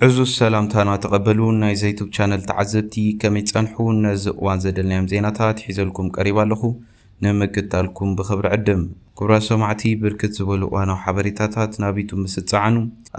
ዕዙዝ ሰላምታና ተቐበሉ ናይ ዘይቱብ ቻነል ተዓዘብቲ ከመይ ጸንሑ ነዚ እዋን ዘደልናዮም ዜናታት ሒዘልኩም ቀሪብ ኣለኹ ንምክታልኩም ብኽብሪ ዕድም ክብራ ሰማዕቲ ብርክት ዝበሉ እዋናዊ ሓበሬታታት ናብ ዩቱብ ምስ እትጸዓኑ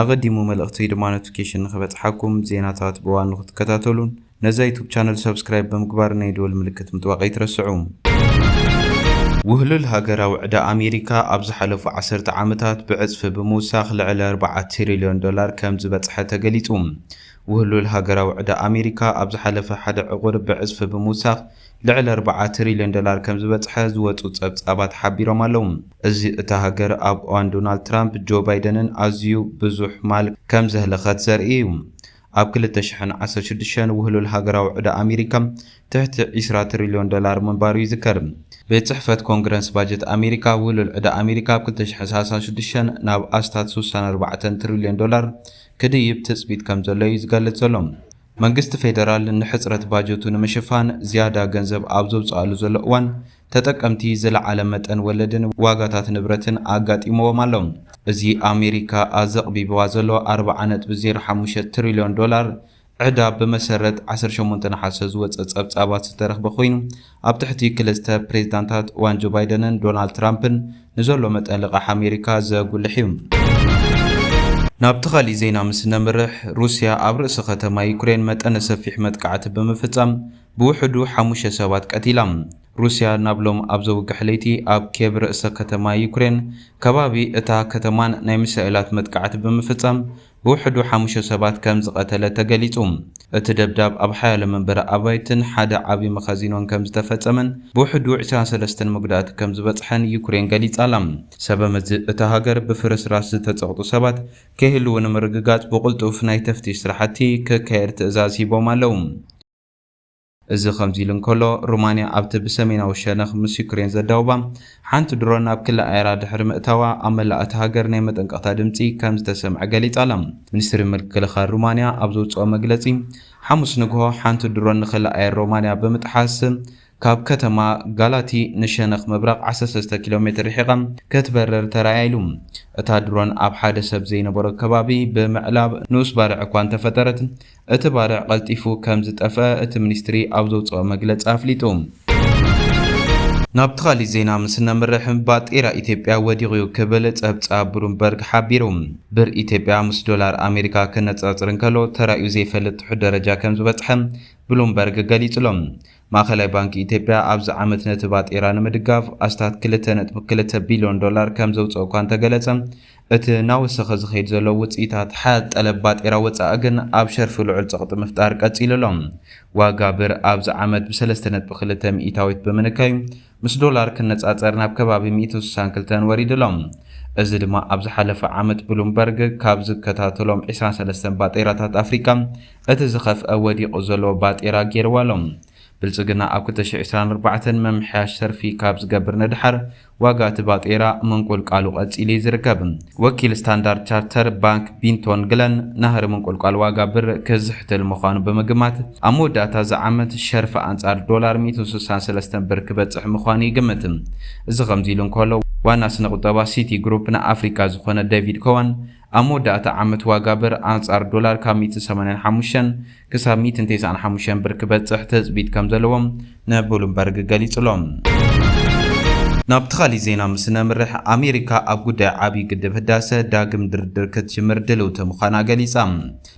ኣቐዲሙ መልእኽተይ ድማ ኖቲፊኬሽን ንኽበጽሓኩም ዜናታት ብእዋኑ ክትከታተሉን ነዛ ዩቱብ ቻነል ሰብስክራይብ ብምግባር ናይ ደወል ምልክት ምጥዋቅ ኣይትረስዑ። ውህሉል ሃገራዊ ዕዳ ኣሜሪካ ኣብ ዝሓለፉ ዓሰርተ ዓመታት ብዕጽፊ ብምውሳኽ ልዕሊ ኣርብዓ ትሪልዮን ዶላር ከም ዝበጽሐ ተገሊጹ። ውህሉል ሃገራዊ ዕዳ ኣሜሪካ ኣብ ዝሓለፈ ሓደ ዕቑር ብዕጽፊ ብምውሳኽ ልዕሊ ኣርብዓ ትሪልዮን ዶላር ከም ዝበጽሐ ዝወጹ ጸብጻባት ሓቢሮም ኣለዉ። እዚ እታ ሃገር ኣብ እዋን ዶናልድ ትራምፕ ጆ ባይደንን ኣዝዩ ብዙሕ ማል ከም ዘህለኸት ዘርኢ እዩ። ኣብ ክልተ ሽሕን ዓሰርተ ሽዱሽተን ውህሉል ሃገራዊ ዕዳ ኣሜሪካ ትሕቲ ዕስራ ትሪልዮን ዶላር ምንባሩ ይዝከር። ቤት ጽሕፈት ኮንግረንስ ባጀት ኣሜሪካ፣ ውህሉል ዕዳ ኣሜሪካ ኣብ ክልተ ሽሕን ሰላሳን ሽዱሽተን ናብ ኣስታት ስሳን ኣርባዕተን ትሪልዮን ዶላር ክድይብ ትጽቢት ከምዘሎ'ዩ ዝገልጽ ዘሎ። መንግስቲ ፌደራል ንሕጽረት ባጀቱ ንምሽፋን ዝያዳ ገንዘብ ኣብ ዘውጽኣሉ ዘሎ እዋን፣ ተጠቀምቲ ዝለዓለ መጠን ወለድን ዋጋታት ንብረትን ኣጋጢምዎም ኣሎ። እዚ ኣሜሪካ ኣዘቕቢብዋ ዘሎ ኣርብዓ ነጥቢ ዜሮ ሓሙሽተ ትሪልዮን ዶላር ዕዳ ብመሰረት ዓሰርተ ሸሞንተ ነሓሰ ዝወጸ ጸብጻባት ዝተረኽበ ኮይኑ ኣብ ትሕቲ ክልተ ፕሬዝዳንታት እዋን ጆ ባይደንን ዶናልድ ትራምፕን ንዘሎ መጠን ልቓሕ ኣሜሪካ ዘጉልሕ እዩ። ናብቲ ካሊእ ዜና ምስ ነምርሕ፣ ሩስያ ኣብ ርእሰ ከተማ ዩክሬን መጠነ ሰፊሕ መጥቃዕቲ ብምፍጻም ብውሕዱ ሓሙሽተ ሰባት ቀቲላ። ሩስያ ናብ ሎም ኣብ ዘውግሕ ለይቲ ኣብ ኬቭ ርእሰ ከተማ ዩክሬን ከባቢ እታ ከተማን ናይ ሚሳኤላት መጥቃዕቲ ብምፍጻም ብውሕዱ ሓሙሽተ ሰባት ከም ዝቐተለት ተገሊጹ። እቲ ደብዳብ ኣብ ሓያሎ መንበሪ ኣባይትን ሓደ ዓቢ መኻዚኖን ከም ዝተፈጸመን ብውሕዱ ዕስራን ሰለስተን መጉዳእቲ ከም ዝበጽሐን ዩክሬን ገሊጻ'ላ። ሰበመዚ እታ ሃገር ብፍርስራስ ዝተጸቕጡ ሰባት ከይህልዉ ንምርግጋጽ ብቕልጡፍ ናይ ተፍትሽ ስራሕቲ ክካየድ ትእዛዝ ሂቦም ኣለዉ። እዚ ከምዚ ኢሉ እንከሎ፣ ሩማንያ ኣብቲ ብሰሜናዊ ሸነኽ ምስ ዩክሬን ዘዳውባ ሓንቲ ድሮን ናብ ክሊ ኣየራ ድሕሪ ምእታዋ ኣብ መላእ እታ ሃገር ናይ መጠንቀቕታ ድምጺ ከም ዝተሰምዐ ገሊጻ ኣላ። ሚኒስትሪ ምክልኻል ሩማንያ ኣብ ዘውጽኦ መግለጺ፣ ሓሙስ ንግሆ ሓንቲ ድሮን ንክሊ ኣየር ሮማንያ ብምጥሓስ ካብ ከተማ ጋላቲ ንሸነኽ ምብራቕ ዓሰርተ ሰለስተ ኪሎ ሜትር ርሒቓ ክትበርር ተራእያ ኢሉ። እታ ድሮን ኣብ ሓደ ሰብ ዘይነበሮ ከባቢ ብምዕላብ ንኡስ ባርዕ እኳ እንተፈጠረት፣ እቲ ባርዕ ቀልጢፉ ከም ዝጠፍኣ እቲ ሚኒስትሪ ኣብ ዘውጽኦ መግለጺ ኣፍሊጡ። ናብቲ ካልእ ዜና ምስ እነምርሕ፣ ባጤራ ኢትዮጵያ ወዲቑ'ዩ ክብል ጸብጻብ ብሉምበርግ ሓቢሩ። ብር ኢትዮጵያ ምስ ዶላር ኣሜሪካ ክነጻጸር እንከሎ ተራእዩ ዘይፈልጥ ትሑት ደረጃ ከም ዝበጽሐ ብሉምበርግ ገሊጹ'ሎ። ማእኸላይ ባንኪ ኢትዮጵያ ኣብዚ ዓመት ነቲ ባጤራ ንምድጋፍ ኣስታት ክልተ ነጥቢ ክልተ ቢሊዮን ዶላር ከምዘውፅእ እኳ እንተገለፀ እቲ እናወሰኸ ዝኸይድ ዘሎ ውፅኢታት ሓያል ጠለብ ባጤራ ወፃኢ ግን ኣብ ሸርፊ ልዑል ፀቕጢ ምፍጣር ቀፂሉ ኣሎ። ዋጋ ብር ኣብዚ ዓመት ብሰለስተ ነጥቢ ክልተ ሚኢታዊት ብምንካዩ ምስ ዶላር ክነፃፀር ናብ ከባቢ ሚእትን ስሳን ክልተን ወሪዱ ኣሎ። እዚ ድማ ኣብ ዝሓለፈ ዓመት ብሉምበርግ ካብ ዝከታተሎም ዕስራን ሰለስተን ባጤራታት ኣፍሪካ እቲ ዝኸፍኣ ወዲቑ ዘሎ ባጤራ ገይርዎ ኣሎ። ብልፅግና ኣብ ክልተ ሽሕ ዕስራን ኣርባዕተን ምምሕያሽ ሰርፊ ካብ ዝገብር ንደሓር ዋጋ እቲ ባጤራ ምንቁልቃሉ ቀፂሉ እዩ ዝርከብ። ወኪል ስታንዳርድ ቻርተር ባንክ ቢንቶን ግለን፣ ናህሪ ምንቁልቋል ዋጋ ብር ክዝሕትል ምዃኑ ብምግማት፣ ኣብ መወዳእታ እዚ ዓመት ሸርፊ ኣንጻር ዶላር ሚእትን ስሳን ሰለስተን ብር ክበጽሕ ምዃኑ ይግምት። እዚ ከምዚ ኢሉ እንከሎ፣ ዋና ስነ-ቁጠባ ሲቲ ግሩፕ ንኣፍሪቃ ዝዀነ ደቪድ ኮወን፣ ኣብ መወዳእታ ዓመት ዋጋ ብር ኣንጻር ዶላር ካብ ሚእትን ሰማንያን ሓሙሽተን ክሳብ ሚእትን ቴስዓን ሓሙሽተን ብር ክበጽሕ ትጽቢት ከምዘለዎ ንቡሉምበርግ ገሊጹ'ሎ። ናብቲ ካሊእ ዜና ምስ ነምርሕ፣ ኣሜሪካ ኣብ ጉዳይ ዓብዪ ግድብ ህዳሰ ዳግም ድርድር ክትጅምር ድልውቲ ምዃና ገሊጻ።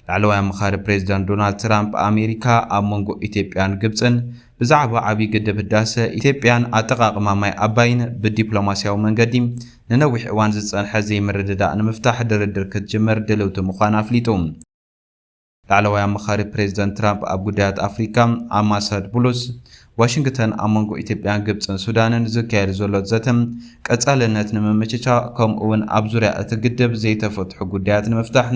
ላዕለዋይ ኣማኻሪ ፕሬዚዳንት ዶናልድ ትራምፕ፣ ኣሜሪካ ኣብ መንጎ ኢትዮጵያን ግብፅን ብዛዕባ ዓብዪ ግድብ ህዳሰ፣ ኢትዮጵያን ኣጠቓቕማ ማይ ኣባይን ብዲፕሎማሲያዊ መንገዲ ንነዊሕ እዋን ዝፀንሐ ዘይምርድዳእ ንምፍታሕ ድርድር ክትጅምር ድልውቲ ምዃና ኣፍሊጡ። ላዕለዋይ ኣማኻሪ ፕሬዝደንት ትራምፕ ኣብ ጉዳያት ኣፍሪካ ኣማሰድ ቡሉስ፣ ዋሽንግተን ኣብ መንጎ ኢትዮጵያ፣ ግብፅን ሱዳንን ዝካየድ ዘሎ ዘተ ቀፃልነት ንምምችቻእ ከምኡ እውን ኣብ ዙርያ እቲ ግድብ ዘይተፈትሑ ጉዳያት ንምፍታሕ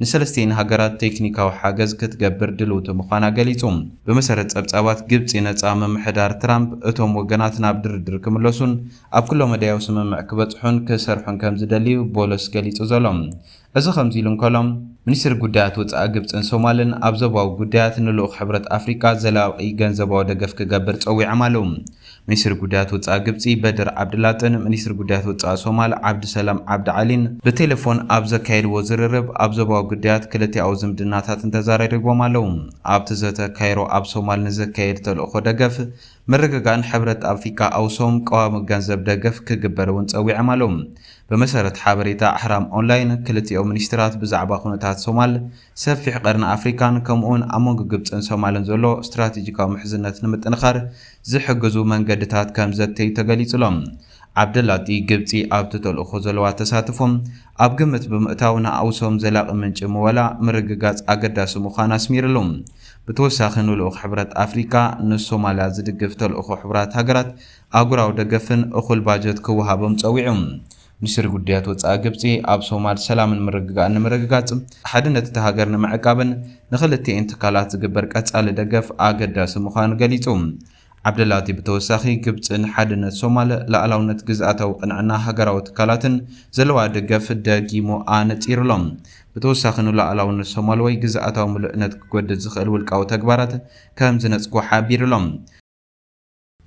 ንሰለስቲኤን ሃገራት ቴክኒካዊ ሓገዝ ክትገብር ድልውቲ ምዃና ገሊፁ። ብመሰረት ፀብፃባት ግብፂ ነፃ ምምሕዳር ትራምፕ እቶም ወገናት ናብ ድርድር ክምለሱን ኣብ ኩለመዳያዊ ስምምዕ ክበፅሑን ክሰርሑን ከምዝደሊ እዩ ቦሎስ ገሊፁ ዘሎ። እዚ ከምዚሉ እንከሎ፣ ሚኒስትሪ ጉዳያት ወጻኢ ግብጽን ሶማልን ኣብ ዞባዊ ጉዳያት ንልኡኽ ሕብረት ኣፍሪቃ ዘላቒ ገንዘባዊ ደገፍ ክገብር ጸዊዖም ኣለዉ። ሚኒስትሪ ጉዳያት ወጻኢ ግብጺ በድር ዓብድላጥን ሚኒስትሪ ጉዳያት ወጻኢ ሶማል ዓብዱሰላም ዓብዲ ዓሊን ብቴለፎን ኣብ ዘካየድዎ ዝርርብ ኣብ ዞባዊ ጉዳያት ክልቲኣዊ ዝምድናታትን ተዛራሪቦም ኣለዉ። ኣብቲ ዘተ ካይሮ ኣብ ሶማል ንዘካየድ ተልእኾ ደገፍ ምርግጋእን ሕብረት ኣፍሪቃ ኣውሶም ቀዋሚ ገንዘብ ደገፍ ክግበር እውን ጸዊዖም ኣለው። ብመሰረት ሓበሬታ ኣህራም ኦንላይን፣ ክልቲኦም ሚኒስትራት ብዛዕባ ኩነታት ሶማል፣ ሰፊሕ ቀርኒ ኣፍሪካን ከምኡ'ውን ኣብ መንጎ ግብጽን ሶማልን ዘሎ ስትራቴጂካዊ ምሕዝነት ንምጥንኻር ዝሕግዙ መንገድታት ከምዘተዩ ተገሊጹ'ሎ። ዓብደላጢ፣ ግብጺ ኣብቲ ተልእኾ ዘለዋ ተሳትፎ ኣብ ግምት ብምእታው ንኣውሶም ዘላቒ ምንጪ ምወላ ምርግጋጽ ኣገዳሲ ምዃኑ ኣስሚርሉ። ብተወሳኺ ንልኡኽ ሕብረት ኣፍሪካ ንሶማልያ ዝድግፍ ተልእኾ ሕቡራት ሃገራት ኣህጉራዊ ደገፍን እኹል ባጀት ክወሃቦም ፀዊዑ። ሚኒስትሪ ጉዳያት ወፃኢ ግብፂ ኣብ ሶማል ሰላምን ምርግጋእን ንምርግጋፅ፣ ሓድነት እታ ሃገር ንምዕቃብን ንክልቲኤን ትካላት ዝግበር ቀፃሊ ደገፍ ኣገዳሲ ምዃኑ ገሊፁ። ዓብደላቲ ብተወሳኺ ግብፂ ንሓድነት ሶማል፣ ልኣላውነት ግዝኣታዊ ቅንዕና ሃገራዊ ትካላትን ዘለዋ ደገፍ ደጊሙ ኣነፂሩ'ሎ። ብተወሳኺ ንሉኣላውነት ሶማል ወይ ግዝኣታዊ ምሉእነት ክጎድእ ዝኽእል ውልቃዊ ተግባራት ከምዝነፅጎ ሓቢሩ'ሎ።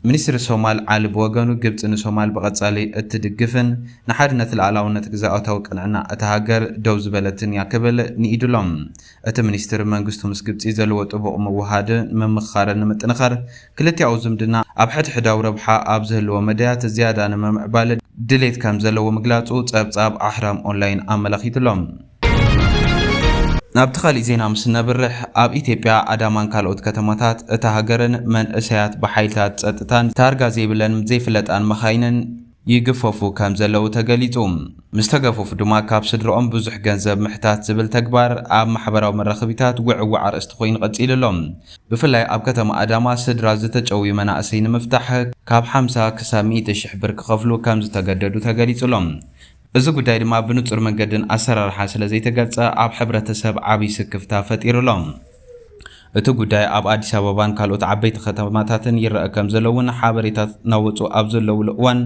ሚኒስትሪ ሶማል ዓሊ ብወገኑ ግብፂ ንሶማል ብቐፃሊ እትድግፍን ንሓድነት ልኣላውነት ግዝኣታዊ ቅንዕና እታ ሃገር ደው ዝበለትን እያ ክብል ንኢዱ'ሎ። እቲ ሚኒስትር መንግስቱ ምስ ግብፂ ዘለዎ ጥቡቕ ምውህሃድ ንምምኽኻርን ንምጥንኻር ክልቲኣዊ ዝምድና ኣብ ሕድሕዳዊ ረብሓ ኣብ ዝህልዎ መዳያት ዝያዳ ንምምዕባል ድሌት ከምዘለዎ ምግላፁ ፀብፃብ ኣህራም ኦንላይን ኣመላኺቱ'ሎ። ናብቲ ካሊእ ዜና ምስ እነብርሕ ኣብ ኢትዮጵያ ኣዳማን ካልኦት ከተማታት እታ ሃገርን መንእሰያት ብሓይልታት ፀጥታን ታርጋ ዘይብለንም ዘይፍለጣን መኻይንን፣ ይግፈፉ ከም ዘለዉ ተገሊጹ። ምስ ተገፉፍ ድማ ካብ ስድርኦም ብዙሕ ገንዘብ ምሕታት ዝብል ተግባር ኣብ ማሕበራዊ መራኽቢታት ውዕዉዕ ኣርእስቲ ኮይኑ ቀጺሉ ኣሎ። ብፍላይ ኣብ ከተማ ኣዳማ ስድራ ዝተጨውዩ መናእሰይ ንምፍታሕ ካብ ሓምሳ ክሳብ ሚእቲ ሽሕ ብር ክኸፍሉ ከም ዝተገደዱ ተገሊጹ ኣሎ። እዚ ጉዳይ ድማ ብንጹር መንገድን ኣሰራርሓን ስለ ዘይተገልጸ ኣብ ሕብረተሰብ ዓብይ ስክፍታ ፈጢሩ ኣሎ። እቲ ጉዳይ ኣብ ኣዲስ ኣበባን ካልኦት ዓበይቲ ከተማታትን ይረኣ ከም ዘሎ እውን ሓበሬታት ናወጹ ኣብ ዘለዉሉ እዋን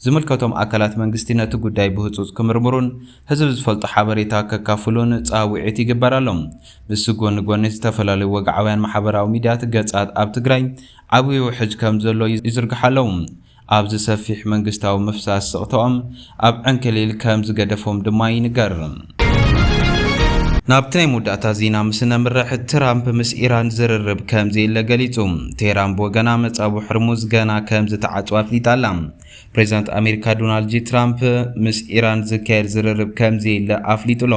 ዝምልከቶም ኣካላት መንግስቲ ነቲ ጉዳይ ብህጹጽ ክምርምሩን ህዝቢ ዝፈልጦ ሓበሬታ ከካፍሉን ጻውዒት ይግበር ኣሎ። ምስ ጎኒ ጎኒ ዝተፈላለዩ ወግዓውያን ማሕበራዊ ሚድያት ገጻት ኣብ ትግራይ ዓብዩ ውሕጅ ከም ዘሎ ይዝርግሓ ኣለዉ። ኣብዚ ሰፊሕ መንግስታዊ ምፍሳስ ስቕታኦም ኣብ ዕንክሊል ከም ዝገደፎም ድማ ይንገር። ናብቲ ናይ መወዳእታ ዜና ምስ እነምርሕ፣ ትራምፕ ምስ ኢራን ዝርርብ ከም ዘየለ ገሊጹ። ቴህራን ብወገና መጻብቦ ሕርሙዝ ገና ከም ዝተዓጽወ ኣፍሊጣ ኣላ። ፕሬዚዳንት ኣሜሪካ ዶናልድ ጂ ትራምፕ ምስ ኢራን ዝካየድ ዝርርብ ከም ዘየለ ኣፍሊጡ ኣሎ።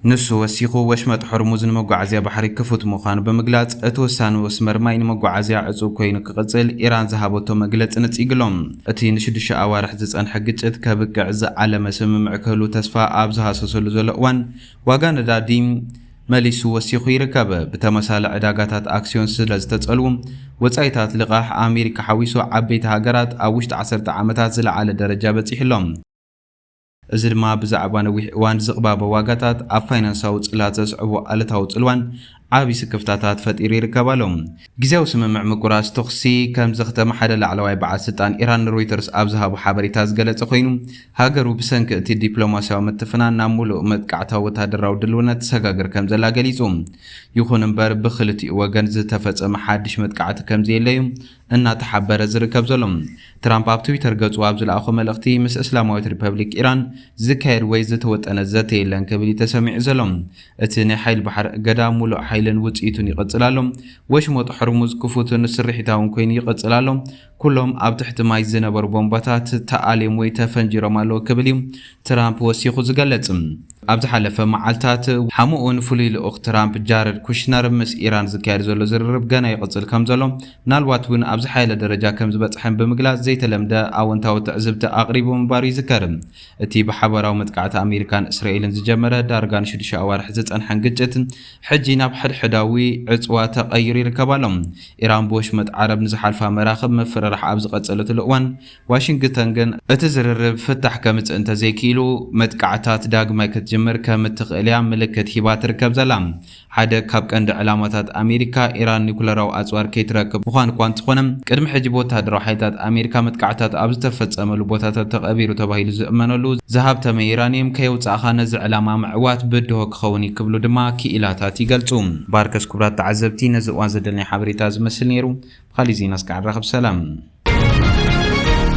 ንሱ ወሲኹ፣ ወሽመጥ ሆርሙዝ ንመጓዓዝያ ባሕሪ ክፉት ምዃኑ ብምግላጽ፣ እቲ ውሳነ መስመር ማይ ንመጓዓዝያ ዕጹው ኰይኑ ክቕጽል ኢራን ዝሃበቶ መግለጺ ንጺግ ኣሎ። እቲ ንሽዱሽተ ኣዋርሕ ዝጸንሐ ግጭት ከብቅዕ ዝዓለመ ስምምዕ ክህሉ ተስፋ ኣብ ዝሃሰሰሉ ዘሎ እዋን፣ ዋጋ ነዳዲ መሊሱ ወሲኹ ይርከብ። ብተመሳሊ ዕዳጋታት ኣክስዮን ስለ ዝተጸልዉ፣ ወጻኢታት ልቓሕ፣ ኣሜሪካ ሓዊሱ ዓበይቲ ሃገራት ኣብ ውሽጢ ዓሰርተ ዓመታት ዝለዓለ ደረጃ በጺሑ ኣሎ። እዚ ድማ ብዛዕባ ነዊሕ እዋን ዝቕባበ ዋጋታት ኣብ ፋይናንሳዊ ጽላት ዘስዕቦ ኣሉታዊ ጽልዋን ዓቢ ስክፍታታት ፈጢሩ ይርከብ ኣሎ። ግዝያዊ ስምምዕ ምቁራጽ ተኹሲ ከም ዘኽተመ ሓደ ላዕለዋይ በዓል ስልጣን ኢራን ንሮይተርስ ኣብ ዝሃቦ ሓበሬታ ዝገለጸ ኮይኑ፣ ሃገሩ ብሰንኪ እቲ ዲፕሎማስያዊ ምትፍናን ናብ ምሉእ መጥቃዕታዊ ወተሃደራዊ ድልውነት ትሰጋገር ከም ዘላ ገሊጹ። ይኹን እምበር ብኽልቲኡ ወገን ዝተፈጸመ ሓድሽ መጥቃዕቲ ከም ዘየለ'ዩ እናተሓበረ ዝርከብ ዘሎ። ትራምፕ ኣብ ትዊተር ገጹ ኣብ ዝለኣኾ መልእኽቲ፣ ምስ እስላማዊት ሪፐብሊክ ኢራን ዝካየድ ወይ ዝተወጠነ ዘተ የለን ክብል እዩ ተሰሚዑ ዘሎ። እቲ ናይ ሓይሊ ባሕሪ እገዳ ምሉእ ሓይልን ውጽኢቱን ይቕጽል ኣሎ። ወሽመጥ ሆርሙዝ ክፉትን ስርሒታውን ኰይኑ ይቕጽል ኣሎ። ኵሎም ኣብ ትሕቲ ማይ ዝነበሩ ቦምባታት ተኣልዮም ወይ ተፈንጂሮም ኣለዉ ክብል እዩ ትራምፕ ወሲኹ ዝገለጽ። ኣብ ዝሓለፈ መዓልታት፣ ሓሙ'ውን ፍሉይ ልኡኽ ትራምፕ ጃረድ ኩሽነር ምስ ኢራን ዝካየድ ዘሎ ዝርርብ ገና ይቕጽል ከምዘሎ፣ ምናልባት'ውን ኣብ ዝሓየለ ደረጃ ከምዝበጽሐን ብምግላጽ ዘይተለምደ ኣወንታዊ ትዕዝብቲ ኣቕሪቡ ምንባሩ ይዝከር። እቲ ብሓባራዊ መጥቃዕቲ ኣሜሪካን እስራኤልን ዝጀመረ ዳርጋ ንሽዱሽተ ኣዋርሕ ዝጸንሐን ግጭት፣ ሕጂ ናብ ሕድሕዳዊ ዕጽዋ ተቐይሩ ይርከብ ኣሎ። ኢራን ብወሽመጥ ዓረብ ንዝሓልፋ መራኽብ ምፍርራሕ ኣብ ዝቐጸለትሉ እዋን፣ ዋሽንግተን ግን እቲ ዝርርብ ፍታሕ ከምጽእ እንተዘይክኢሉ መጥቃዕትታት ዳግማይ ክትጅምር ከም እትኽእል'ያ ምልክት ሂባ ትርከብ ዘላ። ሓደ ካብ ቀንዲ ዕላማታት ኣሜሪካ፣ ኢራን ኒዩክለራዊ ኣጽዋር ከይትረክብ ምዃን'ኳ እንተኾነ፣ ቅድሚ ሕጂ ብወተሃደራዊ ሓይልታት ኣሜሪካ መጥቃዕትታት ኣብ ዝተፈጸመሉ ቦታታት ተቐቢሩ ተባሂሉ ዝእመነሉ ዝሃብተመ ዩራኒየም ከየውጻእኻ ነዚ ዕላማ ምዕዋት ብድሆ ክኸውን'ዩ ክብሉ ድማ ክኢላታት ይገልጹ። ባርከስ ኩብራት ተዓዘብቲ ነዚ እዋን ዘደለኒ ሓበሬታ እዚ መስል ነይሩ ብኻሊእ ዜና እስካዕ ንራኸብ ሰላም።